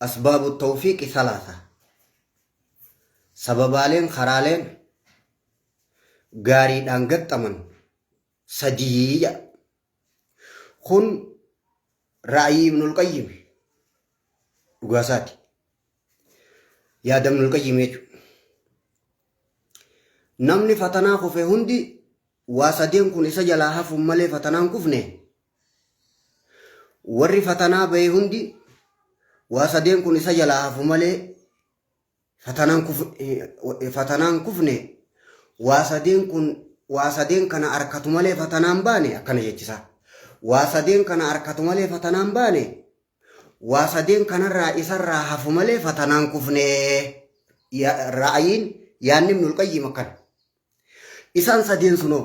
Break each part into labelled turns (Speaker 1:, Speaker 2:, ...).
Speaker 1: Asbaabu tawfiiqi salaasa. Sababaaleen, karaaleen gaariidhaan gaxxaman sadii jedha. Kun ra'ayii Ibnul Qayyim dhugaasaati. Yaada Ibnul Qayyim jechuudha. Namni fatanaa kufe hundi waa sadeen kun isa jalaa hafuun malee fatanaan kufne Warri fatanaa bahe hundi waa sadeen kun isa jalaa hafu malee fatanaan kuf fatanaan kufne waa sadeen kun waa sadeen kana harkatu malee fatanaan baane akkana jechisa. Waa sadeen kana harkatu malee fatanaan baane waa sadeen kanarraa isarraa hafu malee fatanaan kufne ra'ayiin yaanni ibnul qayyim akkana. Isaan sadeen sunoo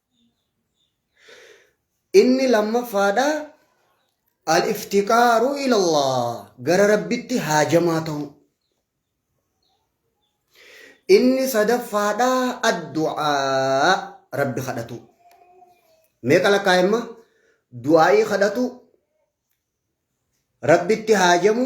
Speaker 1: Inni lammaffaadha al-iftiqaaru ilallah gara rabbitti haajamaa ta'u. Inni sadaffaadha addu'aa rabbi kadhatu. Meeqa lakkaa'imma? Du'aa'ii kadhatu, rabbitti haajamu,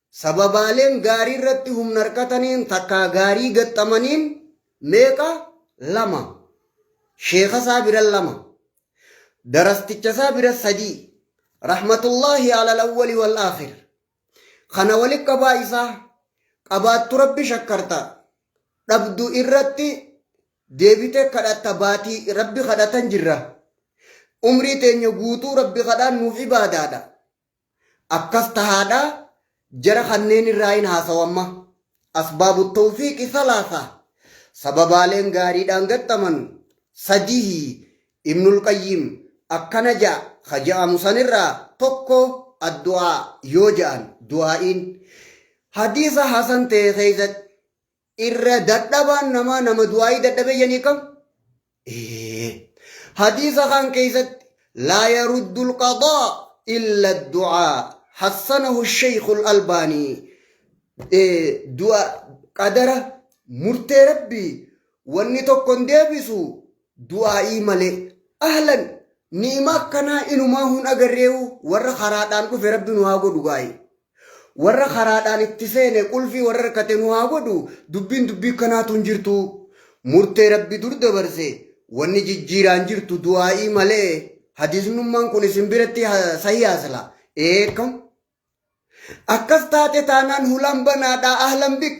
Speaker 1: Sababaaleen gaarii irratti humna hirkataniin takkaa gaarii gaxxamaniin meeqa? Lama. Sheekha isaa bira lama. Darasticha isaa bira sadii. Rahmatullaahi alal awwali wal aakhir. Kana walitti qabaa isaa qabaattu rabbi shakkarta. Dhabdu irratti deebitee kadhatta baatii rabbi kadhatan jirra. Umrii teenya guutuu rabbi kadhaan nuuf ibaadaadha. Akkas tahaadha jara kanneen irraa in haasawu amma. Asbaabu tawfiiqi salaasa Sababaaleen gaariidhaan gaxxaman sadihi Ibnul Qayyiim akkana ja'a ka ja'amu san irraa tokko addu'aa yoo ja'an du'aa'iin. Hadiisa hasan ta'e keessatti irra dadhabaan namaa nama du'aayii dadhabee janii kam? Ee. Hadiisa kaan keessatti laa yaruddu alqadaa illa du'aa hassanahu sheekhu albaanii du'a qadara murtee rabbii wanni tokko hin deebisu du'aa'ii malee ahlan ni'ima akkanaa inumaa hun agarreewu warra karaadhaan dhufe rabbi nu haa godhu gaa'ee. Warra karaadhaan itti seene qulfii warra irkate nu haa godhu dubbiin dubbii kanaatu hin jirtu. Murtee Rabbi dur dabarse wanni jijjiiraan jirtu du'aa'ii malee hadiisnummaan kun isin biratti sahiyaa sila. Ee kam? Akkas taate taanaan hulaan banaadhaa ahlan bik.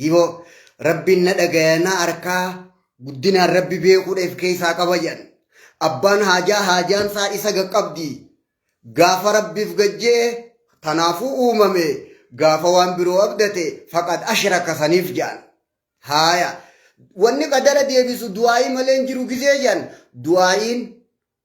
Speaker 1: Hiboo rabbiin na dhagaya na arkaa guddinaan rabbi beekuudha if keessaa qaba jedhan. Abbaan haajaa haajaan isaa isa gaqqabdi. Gaafa rabbiif gajjee tanaafuu uumame gaafa waan biroo abdate faqad ashraka saniif jedhan. Haaya wanni qadara deebisu du'aa'ii malee hin jiru gizee jedhan du'aa'iin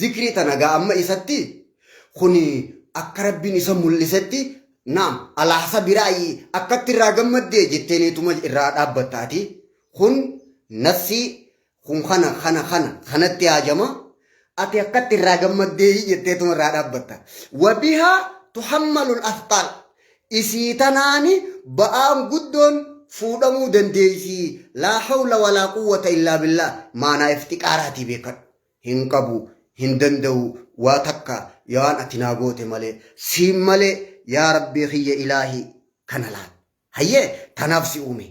Speaker 1: Zikrii tana gaa amma isatti kuni akka rabbiin isa mul'isetti naam alaasa biraayi akkatti irraa gammaddee jetteeniituma irraa dhaabbattaati kun nassii kun kana kana kana kanatti haajama ati akkatti irraa gammaddee jetteetuma irraa dhaabbatta wabihaa tuhammalul asxaal Isii tanaani ba'aan guddoon fuudhamuu dandeeysii laa hawla walaa quwwata illaa billaah maanaa iftiqaaraatii beekhadhu. Hin qabu, hin danda'uu, waa takka yaa waan ati naa goote malee, siin malee yaa rabbii khiyya ilaahii kana laal. Hayyee tanaaf si uumee.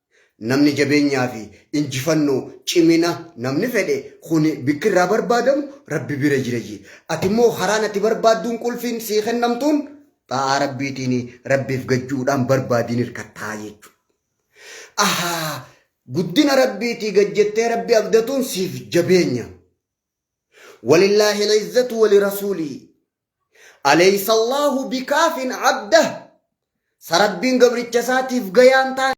Speaker 1: Namni jabeenyaa fi injifannoo, cimina, namni fedhe kuni bikki irraa barbaadamu Rabbi bira jira jee. Ati immoo karaan ati barbaadduun qulfiin sii kennamtuun xaa'aa Rabbiitiini Rabbiif gajju'uudhaan barbaadiin hirkattaa jechu. Ahaa guddina Rabbiitii gad jettee Rabbi abdatuun siif jabeenya. Walillaahi al-izzatu wali rasuulii. Aleysa Allaahu bikaafin abdah. Sa Rabbiin gabricha isaatiif gayaan taane.